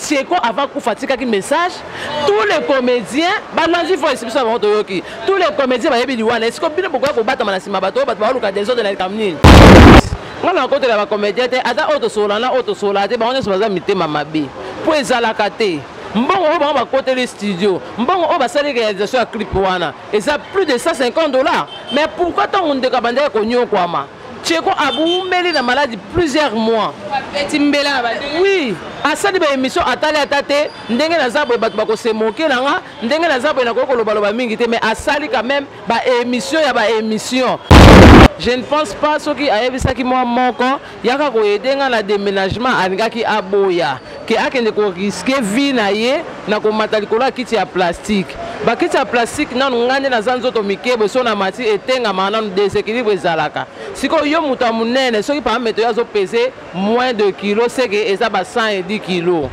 Cheko avant kufa atikaki message tous les comédiens balanzi voice biso bango toyoki tous les comédiens bayebi liwana esiko bino bokoya kobatama na nsima bato oyo bato baoluka desordre na likambo nini nga na kotela bacomédien te ata oyo tosolola na oyo tosolola te bango nyonso baza mitema mabe mpo ezalaka te mbongo oyo bango bakoteli studio mbongo oyo basali réalisation ya clip wana eza plus de 150 dollars mais pourquoi ntango ndeko abandaki konyokwama Tcheko abumeli na maladi plusieurs mois. Oui, asali ba émission atali ata te ndenge naza boye bato bakosemoke na nga ndenge naza boye nakoki kolobaloba mingi te mais asali quand même ba émission ya ba émission je ne pense pas soki ayebisaki mwa moko yaka koyede nga na déménagement alingaki aboya ke akende ko risquer vie na ye na komata likolo ya kiti ya plastique bakiti ya plastique nanu ngai nde naza nzoto mike boso na mati etengamaka nanu deséquilibre ezalaka sikoyo yo moto ya monene soki par meto yo azopese moins de kilo seke eza ba 110 kilo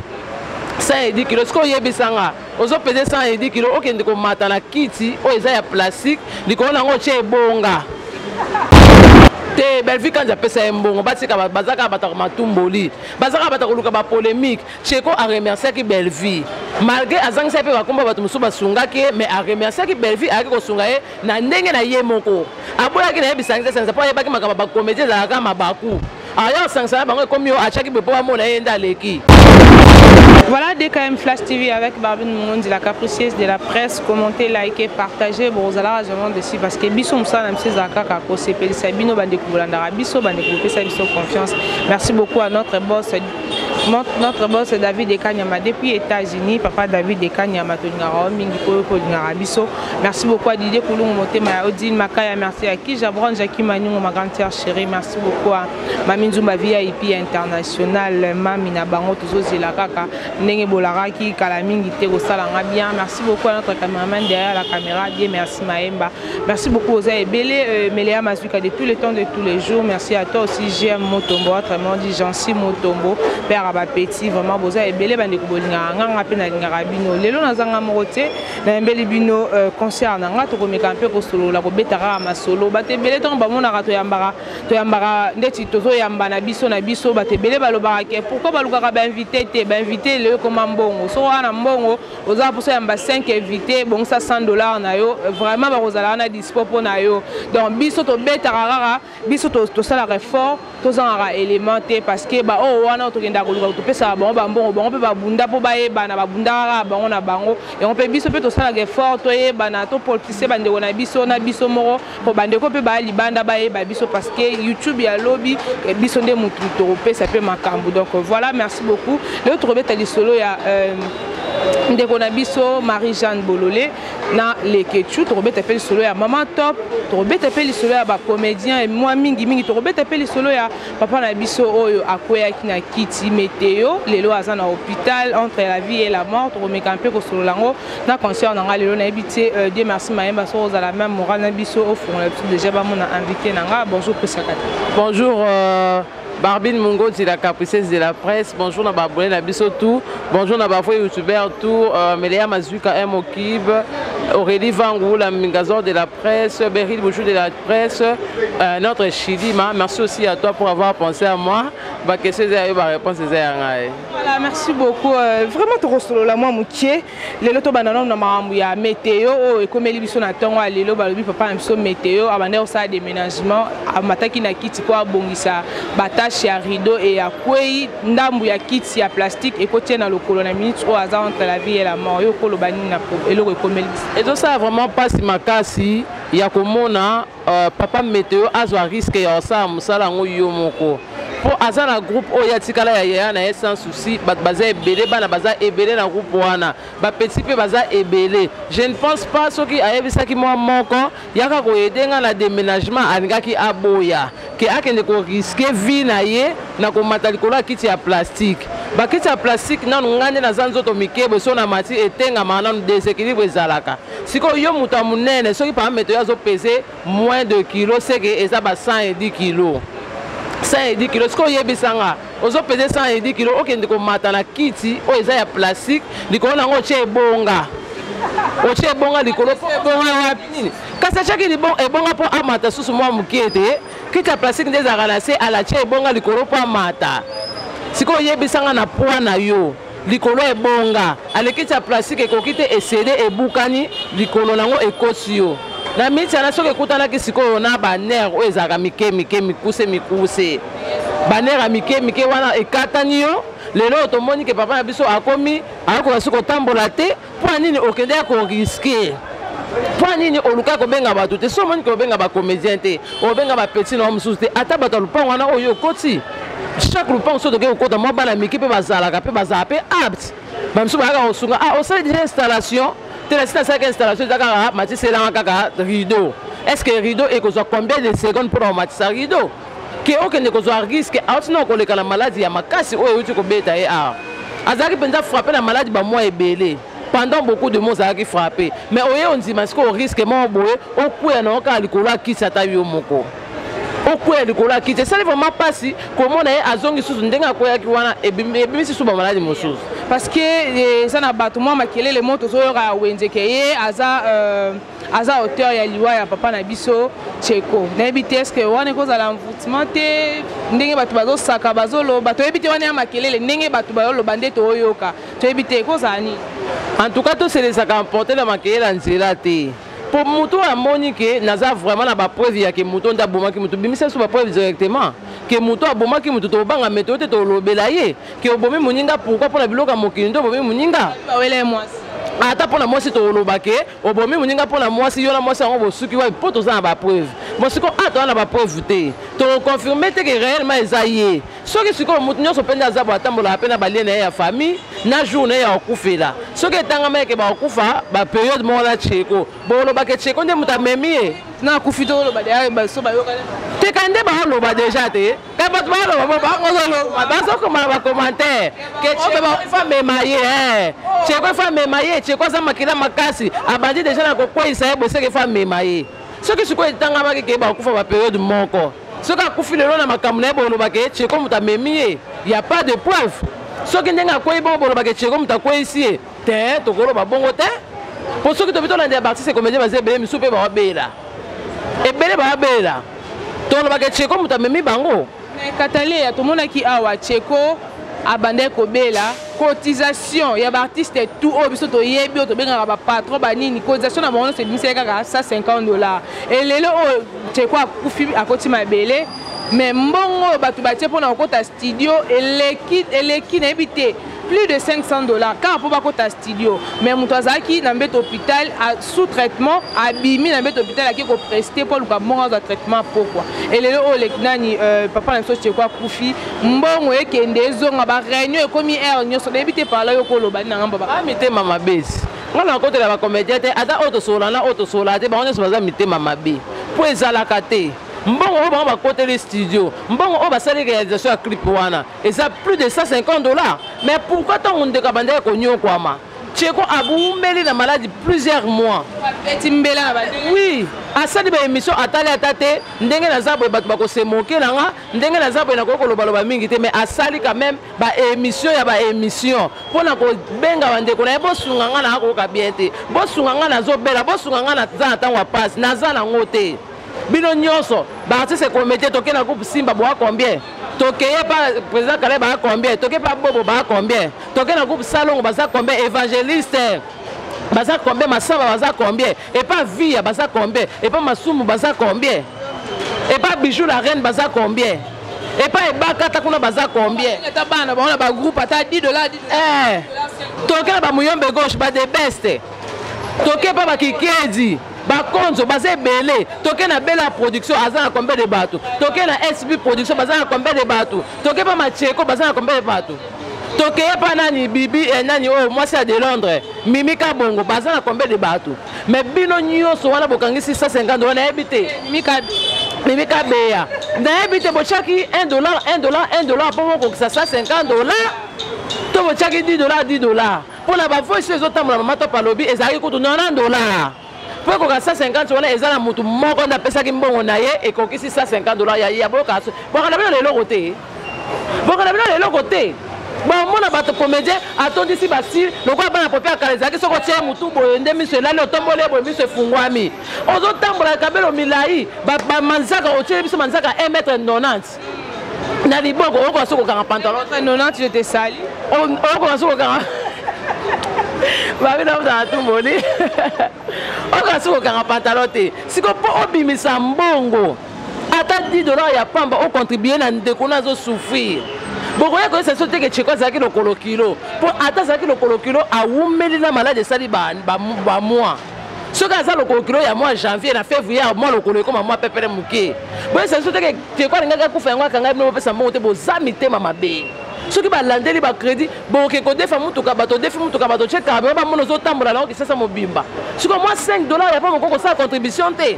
110 kilo sikoyo oyebisa nga ozopese 110 kilo okende komata na kiti oyo eza ya plastique likolo nango otye ebonga te bellevue kanzi apesa ye mbongo batika bazaka bataka matumboli baza kaka bato koluka bapolémique cheko aremerciaki bellevie malgré azangisaki mpe bakombo ya bato mosusu basungaki ye mais aremerciaki bellevie ayaki kosunga ye na ndenge na ye moko aboyaki na ye bisangisasangisa mpo ayebaki makambo bakomedi ezalaka mabaku aya osangisa na bango ekomi yo atyaki boye mpo bamona ye nde aleki Voilà DKM Flash TV avec Barbine Mungundi, la capricieuse de la presse. commente like partage bokozalaka vraiment dessus parce que biso mosala na biso ezala kaka kosepelisa bino bandeko bolandaka biso bandeko bopesa biso confiance merci beaucoup à notre boss notre boss david ekanyama depuis états-unis papa david ekanyama tolingaka yo mingi mpo kolingaka biso merci beaucoup à didie kulungu motema ya odile makaya merci à kija bron jaki maningo ma grande sœur chérie merci beaucoup à mami nzumba vip international mami na bango tozozela kaka ndenge bolakaki kala mingi te kosala nga bien merci beaucoup à notre cameraman derrière la caméra die merci maemba merci beaucoup oza ebele euh, melea mazuka de tous les temps de tous les jours merci à toi aussi gm motombo autrement dit jansi motombo père ya bapeti vraiment boza ebele bandeko bolingaka nga nga mpe nalingaka bino lelo naza nga moko te nayembeli bino euh, concert na nga tokomeka mpe kosolola kobeta kaka masolo bato ebele ntango bamonaka toyambaka toyambaka ndeti tozoyamba na biso na biso bato ebele balobaka ke pourkui balukaka bainvité te bainvité lelo ekoma mbongo soko wana mbongo ozala mposa yamba 5 invité bongisa 100 dollar na yo vraiment bakozala wana dispo mpo na yo donc biso tobetaka kaka biso tosalaka effort tozangaka élément te parce que baoyo wana oyo tokendaka koluka topesaka bango bambongo bango mpe babunda mpo bayebana babundaka kaka bango na bango yango mpe biso mpe tosalaka effort toyebana topolpise bandeko na biso na biso moko po bandeko mpe baya libanda bayeba biso parce que youtube ya lobi eh, biso nde motu tokopesa mpe makambo donc voilà merci beaucoup lelo tokobeta lisolo ya euh, ndeko na biso marie jeanne bolole na lekechu tokobeta mpe lisolo ya mama top tokobeta mpe lisolo ya bacomédien mwa mingimingi tokobeta mpe lisolo ya papa na biso oyo akweyaki na kiti meteo lelo aza na hôpital entre la vie et la mort tokomeka mpe kosolola yango na concert na ngai lelo nayebi te euh, dieu merci mayemba soki ozala meme moral na biso ofongola biso déjà bamona invité na ngai bonjour pesaka te bonjour euh... Barbine Mungonzi, la capriceuse de la presse. Bonjour, Naba Abonné, la tout. Bonjour, Naba Foué, youtubeur, tout. Euh, Melea Mazuka, M. Okib. Aurélie Vangou, la Mingazor de la presse. Beryl Bouchou de la presse. Euh, notre Chilima. Merci aussi à toi pour avoir pensé à moi. Ma question, c'est la réponse, c'est Voilà, merci beaucoup. Euh, vraiment tokosolola mwa moke lelo tobanda nano na makambo ya meteo oyo oh, ekomeli biso na ntongo ya lelo balobi papa na biso meteo abandaki kosala déménagement amataki na kiti mpo abongisa batashe ya rideau e ya kwei ndambo ya kiti ya plastique ekotia na lokolo na minute oyo aza entre la vie et la mort yo okoloba nini na eloko ekomeli biso ezosala vraiment mpasi makasi ya komona Uh, papa meteo azwa riske ya kosala mosala yango yo moko mpo aza na groupe oyo atikala ya yaya na ye sans souci bato baza ebele bana baza ebele na groupe wana bapeti mpe baza ebele je ne pense pas soki ayebisaki mwa moko yaka koyede ngai na déménagement alingaki aboya ke akende koriske vie na ye na komata likolo ya kiti ya plastike bakiti ya plastike nanu ngai nde naza nzoto mikebo so na mati etengamaka nanu deséquilibre ezalaka sikoyo yo moto ya monene soki par exemple yo azo pese moins de kilo seke eza ba 110 kilo 110 kilo sikoyo oyebisa nga ozo pese 110 kilo okende komata na kiti oyo eza ya plastique likolo na yango otye ebonga otye ebonga likolo po ebonga wapi nini kasi atyaki ebonga mpo amata susu mwa moke te kiti ya plastique nde ezalaka na se alatye ebonga likolo mpo amata sikoyo oyebisa nga na poids na yo likolo ya ebonga alekisi ya plastique ekoki te esede ebukani likolo nango ekosi yo na mitiana soki ekutanaki sikoyo na banere oyo ezalaka mike mike mikuse mikuse banere ya mike mike wana ekatani yo lelo oyo tomoni ke papa na biso akomi akoka soki kotambola te mpo nini okendeki koriske mpo nini oluka kobenga bato te so omoni ke obenga bacomédien te obenga bapeti na yo mosusu te ata bato ya lopango wana oyo okoti chaque lopango soki tokei kokota mwa bana mike mpe bazalaka mpe bazala mpe apte bamosusu bayaka kosunga ah osali deja installation te nasi nasalaka installation eza kaka matiselanga kaka rideau est ce que rideau ekozwa combien de seconde mpo na komatisa rideau ke okende kozwa riske auti na koleka na maladi ya makasi oyo euti kobeta ye awa azalaki mpenza frappe na maladi bamwa ebele pendant beaucoup de mois ozalaki frappe mais oye ondima sikoyo riske moko boye okweya na okaka likolo akisi ata yo moko okweya likolo akiti esali vraiment mpasi komona ye azongi susu ndenge akweyaki wana ebimisi susu bamaladi mosusu parce que eh, eza na bato mwa makelele mo tozoyoka wenzeke ye aza euh, aza auteur ya liwa ya papa na biso cheko nayebi te eske wana ekozala envoutement te ndenge bato bazosaka bazoloba toyebi te wana ya makelele ndenge bato bazoloba nde toyoka toyebi te ekozala nini en tout cas toselesaka emporte na makelele ya nzela te mpo moto oyo amoni ke naza vraiment na bapreuve ya ke moto nde abomaki moto bimisa biso bapreuve directement ke moto abomaki moto tobanga meto te tolobela ye ke obomi moninga pourkui mpo na biloko ya mokili nde obomi moninga ata mpo na mwasi toloba ke obomi moninga mpo na mwasi yo na mwasi yango bosuki wapi mpo toza na bapreuve mo sikoyo a ah, toza na bapreuve te tokoconfirme te ke réellement eza ye soki sikoyo moto nyonso mpe nde aza bo atambolaka mpe na balie na ye ya famille na jour na ye ya kokufela soki etangama eke bakokufa baperiode moko na cheko bolobaka cheko nde moto amemi ye nakufi toloba deya baso bayokana te kani nde baoloba deja te me bato baloba bangozoloba bazokoma na bacommentaire ke cekofa mema ye eh. ceko efa mema ye ceko aza makila makasi abandi deja na kokweisa ye boseke efa mema ye soki sikoyo etangamaki ke bakufa baperiode moko soki akufi lelo na makambo na ye bolobaka ye ceko moto amemi ye ya pas de preuve soki ndenge akwei bongo bolobaka ceko moto akweisi ye te tokoloba bongo te mpo soki tobi tolandela baartiste comédien baza ebele misusu mpe bawabela ebele bawabela tolobaka echeko moto amemi bango mais kataleya tomonaki awa cheko abandaki kobela cotisation ya baartiste tout oyo biso toyebi oyo tobengaka bapatron banini cotisation na bango nyonso ebimisaki kaka 150 dollar elelo oyo cheko akufi akoti mabele mais mbongo oyo bato batie mpo na kokota studio eleki eleki nayebi te plus de 500 dollars kaka mpo bakota studio mais moto azalaki na mbeto hôpital sous traitement abimi na mbeto hôpital ake kopreste mpo aluka mbongo azwa traitement pokwa elelo oyo leki nani euh, papa na biso cheko akufi mbongo ekende ezonga bareunion ekomi aire nyonso nayebi te parla yo koloba nini na ngambo ba mitema mabesi ngai nakotela bacomédien te ata oyo tosolola na oyo tosolola te bango nyonso baza mitema mabe mpo ezalaka te mbongo oyo bango bakoteli studio mbongo oyo basali réalisation ya clip wana eza plus de 150 dollars mais pourquoi ntango ndeko abandaki konyokwama cheko aboumeli na maladi plusieurs mois oui asali baémission atali ata te ndenge naza boye bato bakosemoke na nga ndenge naza boye nakoki kolobaloba mingi te mais asali quand même baémission ya baémission mpo na kobenga bandeko na ye bosunga nga nakoyoka bien te bosunga nga nazobela bosunga nga naza na ntango ya mpasi naza nango te bino nyonso baartiste ekomete toke na groupe simba boa combien tokeye pa président kale baa combien toke pa bobo baa combien toke na groupe salongo baza combien évangéliste baza combien masaba baza combien epa via baza combien epa masumu baza combien epa bijou la reine baza combien epa ebaka ata kuna baza combien ata bana baona bagroupe ata 10 dollar eh, toke na bamuyombe gauche badebeste toke pa bakikedi bakonzo baza ebele toke na bela production aza na combien de bato toke na sb production baza na combien de bato toke pa macheko baza na combien de bato tokeye pa nani bibi eh, nani oyo oh, mwasi ya de londres mimi kabongo baza na combien de bato mais bino nyonso wana bokangisi 150 wana yebi te mimi kabeya nayebi te botyaki 1 dollar 1 dollar 1 dollar mpo bokokisa 150 dollar to botyaki 10 dollar 10 dollar mpo na bavoice oyo ezotambola mama top alobi ezalaki kutu 90 dollar mpo ekoka 150 wana eza na motu moko nde apesaki mbongo na ye ekokisi 150 dollar ya ya boyoka boyoka na bino na eloko te boyoka na bino na eloko te bomona bato comédien atondisi basile lokola bana pope ya kala ezalaki soki otie motu boye nde miso elali otomboli ye boye miso efungwami ozotambola kabelo milai bamanzaka otieli biso manzaka 1 mètre 90 na liboko okoka soki kokanga pantalon nonati yo te sali okoka soki kokanga babi na ozala tumoli okoka soki kokanga pantalon te siko mpo obimisa mbongo ata 10 dollar ya pamba ocontribue na ndeko na azosouffrir bokoya koyesa so teke cheko azalaki lokolo kilo mpo ata azalaki lokolo kilo awumeli na maladi esali bamwa soki aza lokolo kilo ya mwa janvier na février mwa lokolo ekoma mwa pepele moke boyesa biso teke teko alingaki akufa yango akangai bino bopesa mbongo te boza mitema mabe soki balandeli bacrédit boke kodefa motuka bato odefi motuka bato otye camion bamona ozotambola nango kisasa mobimba sikoyo mwa 5 dollar ya mpo mokoki kosala contribution te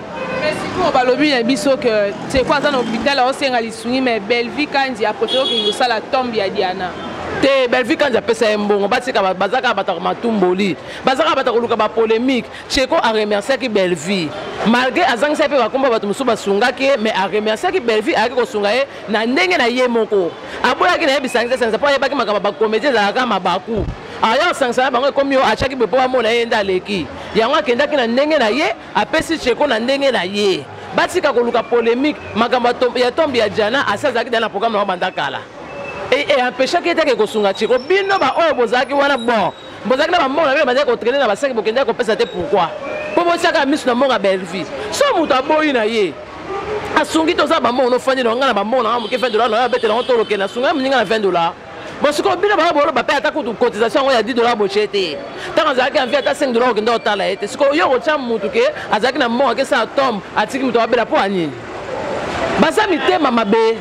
sikoyo balobi na biso ke teko aza na hôpital aosenga lisungi mais bellevie kanzi akotoki okende kosala tombe ya diana te bellevie kanzi apesa ye mbongo batika bazaka bato ya matumboli baza kaka bato koluka bapolemique cheko aremerciaki bellevue malgré azangisaki mpe bakombo ya bato mosusu basungaki ye mais aremerciaki bellevue ayaki kosunga ye na ndenge na ye moko aboyaki na ye bisangisasangisa mpo ayebaki makambo bakomedi ezalaka mabaku aya osangisa na bango ekomi yo atyaki boye mpo bamona ye nde aleki yango akendaki na ndenge na ye apesi cheko na ndenge na ye batika koluka polemique makambo ya tombe ya jana asi azalaki da na programme na bango banda kala e, e empeshaki ye te ake kosunga cheko bino baoyo bozalaki wana bon bozalaki na bambongo na bino bazali kotraine na basaki bokendaki kopesa te pourkui mpo botiaka miso na mbongo ya bellevue so moto aboyi na ye asungi toza bambongo nofandi na ngai na bambongo na ngai moke 20 dolar na yo abetela yango toloke na sunga moninga na 20 dolar bosikoyo bino baa boloba mpe ata kutu cotisation yango ya 10 dolar botie te ntango azalaki anvi ata 5 dolar okenda otala ye te sikoyo yo okotya motu ke azalaki na mbongo akesala tombe atiki moto abela mpo anini baza mitema mabe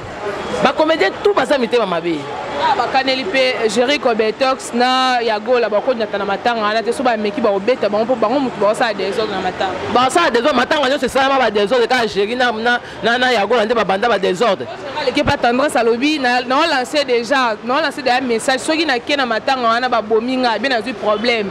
bakomedien tout baza mitema mabe ah, bakaneli mpe jerico betox na ya gola bakonyata na matanga wana te so bameki bakobeta bango mpo bango motu bakosala desordre na matanga bakosala desordre matanga nyonso esalama badesordre kaka jeri na ya gola nde babanda badesordre aleki mpe tendresse alobi naolanse déjà naolanse deja message soki nake na matanga wana babomi ngai mpe nazwi problème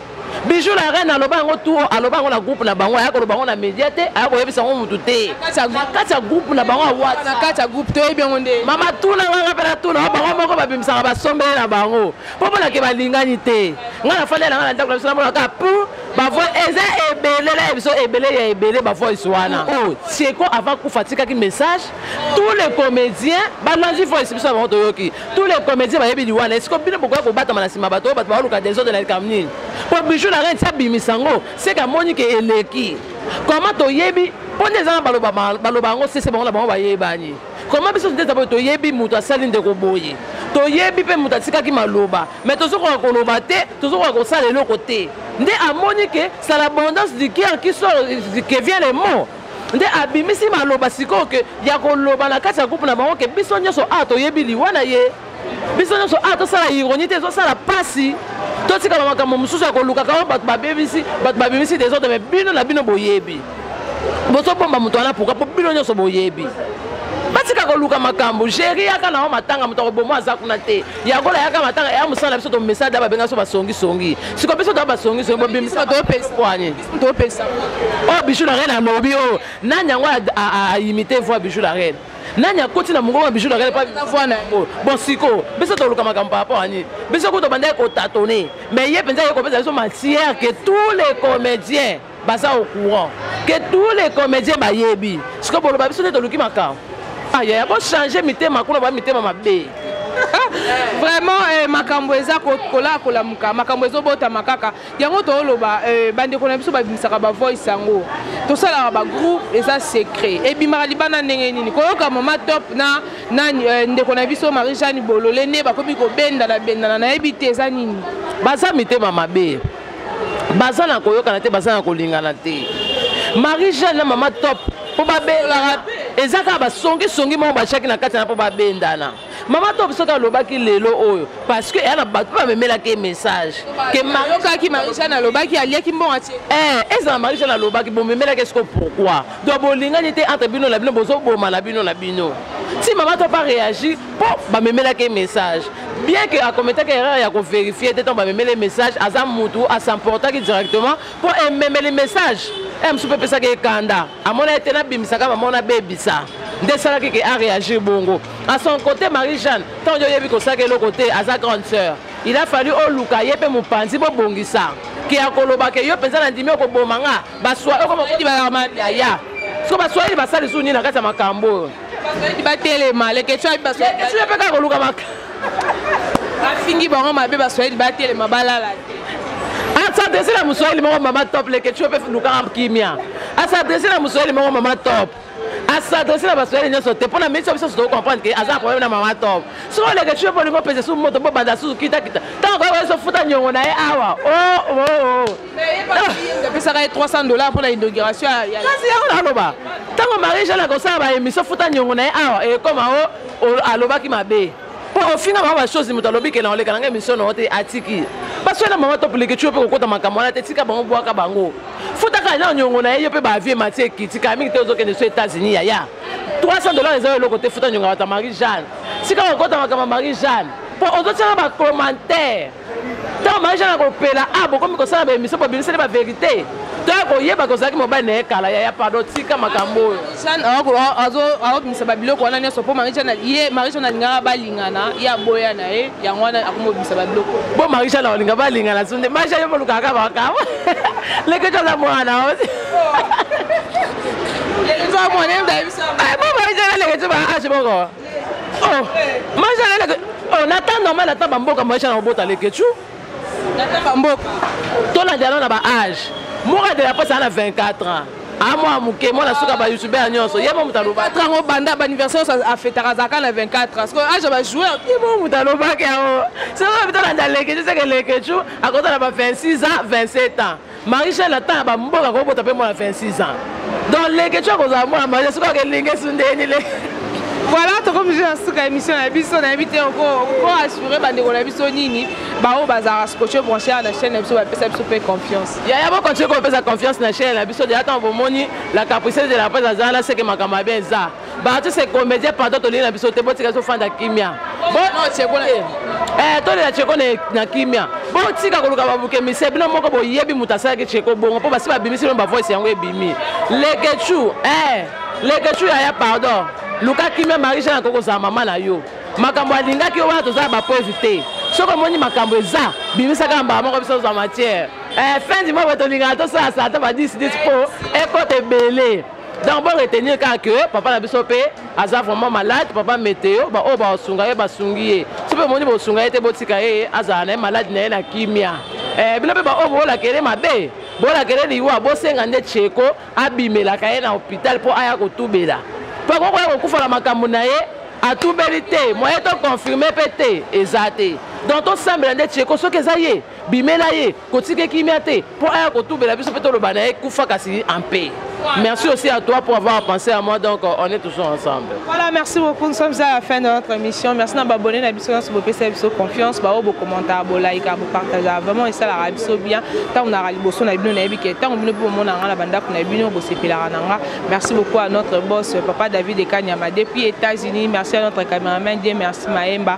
Bijou la reine aloba yango tu aloba yango na groupe na bango ayaka loba yango na media te ayaka koyebisa yango mutu te kati ya groupe na bango awatna kati ya groupe toyebi yango nde mama tuna nganga mpe natuna bango moko babimisaka basombele na bango mpo monake balingani te ngai nafandi na ngai na ndako na biso namona kaka pu bavoi eza ebele na biso ebele ya ebele bavoice wana oyo tieko avant kufa atikaki message tous les comédiens balandi voice biso na bango toyoki tous les comédiens bayebi liwa na esiko bino bokoya kobatama na nsima bato oyo bato baoluka desordre na likambo nini mpo bijou na renti abimisa yango seke amoni ke eleki koma toyebi mpo nde eza na baloba baloba yango sese bango na bango bayebani koma biso nde taboye toyebi moto asali ndeko boye toyebi mpe moto atikaki maloba mai tozokoka koloba te tozokoka kosala eloko te nde amoni ke c'est l'abondance du cœur qui sort qui vient le mot nde abimisi maloba sikoyo ke ya koloba na kati ya groupe na bango ke biso nyonso awa toyebi liwa na ye biso nyonso awa tosala ironi te ezosala mpasi totikala makambo mosusu ya kolukaka oyo bato babebisi bato babimisi desordre me bino na bino boyebi bozobomba moto wana pourkui mpo bino nyonso boyebi batika koluka makambo géri yaka na yo matanga moto akoboma aza kuna te yakola yaka matanga ya mosala na biso tomesada babenga so basongisongi siko biso toya basongisongi bobimisa bato yo mpe espoani topesa oyo oh, bijou la reine alobi oyo oh. nani yango aimite voi bijou la reine nani akoti na mongongo ya bijou la reine mpo voi na yango bon sikoyo biso toluka makambo par rapport ani biso kutu bandaki kotatone mais ye mpenza ye kopesa biso matière que tous les comédiens baza au courant que tous les comédiens bayebi sikoyo boloba biso nde toluki makambo ayaya ah, bochange mitema kuna ba mitema mabe vraiment eh, makambo eza kolakola muka makambo ezobotamaka kaka yango toloba euh, bandeko na biso babimisaka bavoice yango tosalaka bagroupe eza secret ebimaka libanda ndenge nini koyoka mama top na, na euh, ndeko na biso marie jeanne bolole nde bakomi kobendana bendana nayebi te eza nini baza mitema mabe baza na koyokana te baza na kolingana te marie jeanne na mama top mpo babelaka eza kaka basongisongi moko batiaki na kati na mpo babendana mama top soki alobaki lelo oyo parce que eya na bato mpe amemelaki ye message ke mariokaki marijane alobaki aliaki mbongo atie eh, ezala marijane alobaki bomemelaki esiko pourkui donc bolingani te entre bino na bino bozobomana bino na bino si mama top areagi mpo bamemelaki ye message bien que akometaki erreur ya koverifie te ntango bamemeli message aza mutu asemportaki directement mpo ememeli message e mosusu mpe epesaki ekanda amonaki te nabimisaka mama ona bebisa nde esalaki ke areagir bongo A son cote Marie Jeanne tango oyebi kosaka eloko te aza grande sœur il a fallu oluka ye mpe mopanzi bobongisa ke akoloba ke yo mpenza nandimi okoboma nga baswa okomokoti baarmani aya siko baswahili basali lisusu nini na kati ya makambo oyo batelema leketio ayebi baswahili mpe kaka koluka maka bafingi bango mabe baswahili batelema balala te asadrese na moswahili moko mama top leketio mpe lukaka kimia asadrese na moswahili moko mama top asadrese na basoyali nyonso te mpo na minisi biso soto comprendre ke aza na problème na mama top soki oleke cue mpo olingi opesa su moto mpo banda susu kitakita ntango koyeba biso futa nyongo na ye awa apesaka ye 300 dollar mpo na inauguration kasi yango naloba ntango marie jeanne akosala baémission futa nyongo na ye awa ekoma o alobaki mabe po ofinga mama basozi moto alobi ke na oleka nanga emission na ote atiki baso na mama topuleke tiyo mpe kokota makambo wana te tika bango bwaka bango futaka na nyongo na ye yo mpe bavie mati ekiti kala mingi te ozokende so états-unis yaya 300 dollars eza yo eloko te futa nyongo ya bato ya marie jeanne tika kokota makambo ya marie jeanne po ozotyaka bacommentaire ntango maisha na kopela a ah, bokomi kosala baemission bobimiseli baverité toya koyeba kozalaki mobali na ye kala yaya pardon tika makambo oyo azobimisa babiloko wana nyonso mpo ye marisha nalingaka balingana ye aboya na ye yango wana akomobimisa babiloko bo marisha na olinga balingana so nde marisha yo bolukaka bakama leke toza mwana ozi mwana marisha naleke ti baage moko oh maisha na leke oh na temps normal na temps ba mboka maisha na obota leke tu na temps ba mboka to na dialo na ba âge mora de la passe na 24 ans amwa ah, moke mwana suka ah. bayoutubeur nyonso ye mo moto alobaka yango banda baanniversaire oyo afetaka azalaka na 24 parce que age bajoueur ye mo moto alobaka yango soki bitolanda leke tiseke leke tu akotala ba 26 ans 27 ans Marie Jeanne ata ya bamboka kobota mpe mwana 26 ans donc leketio akozala mwana marie soki akelinga esundeni le voilà tokomi je na suka ya émission na biso nayebi te oko assure bandeko na biso nini baoyo bazalaka scotche branche na chaîne na biso bapesa biso mpe confiance yaya bokontinue kopesa confiance na chaîne na biso deja ntango bomoni la caprice de la presse aza wana seke makambo mabe eza baartiste comédien pardon tolingi na biso te botika tofanda kimia eh, tolela cheko na kimia botika koluka babuke mise bino moko boyebi moto asalaki cheko bongo mpo basi babimisi bino bavoice yango ebimi lekechu eh, lekechu yaya pardon luka kimia marie jean akoki kozala mama na yo makambo alingaki yo wana tozala bapreuve te soki omoni makambo eza bimisaka mbala moko biso tozwa matière eh, fin du mois boye tolingaka tosala sata ba 10 10 mpo ekota ebele donc bo retenir kaka ke papa na biso mpe aza vraiment malade papa meteo baoyo basunga ye basungi ye so mpe omoni bosunga ye te botika ye azala na ye maladi na ye na kimia eh, bino mpe baoyo bolakele mabe bolakele liwa bosenga nde cheko abimelaka ye na hopital mpo aya kotubela mpo akoki koya kokufa na makambo na ye atubeli te moye toconfirme mpe te eza te donc tosambela nde cheko soki eza ye bimela ye kotika kimia te mpo aya kotubela biso mpe toloba na ye kufa kasi en paix Merci aussi à toi pour avoir pensé à moi. Donc, on est toujours ensemble. Voilà, merci beaucoup. Nous sommes à la fin de notre émission. Merci d'avoir abonné à l'émission. Si vous pouvez vous confiance, bah, vos commentaires, vos likes, vos partages. Vraiment, et ça, la rabi so bien. Tant on a rabi bosso, on a bien naïbi, tant on a bien mon anga, la banda, on a bien au bossé pilarananga. Merci beaucoup à notre boss, papa David et Kanyama, depuis États-Unis. Merci à notre caméraman, Dieu merci Maemba.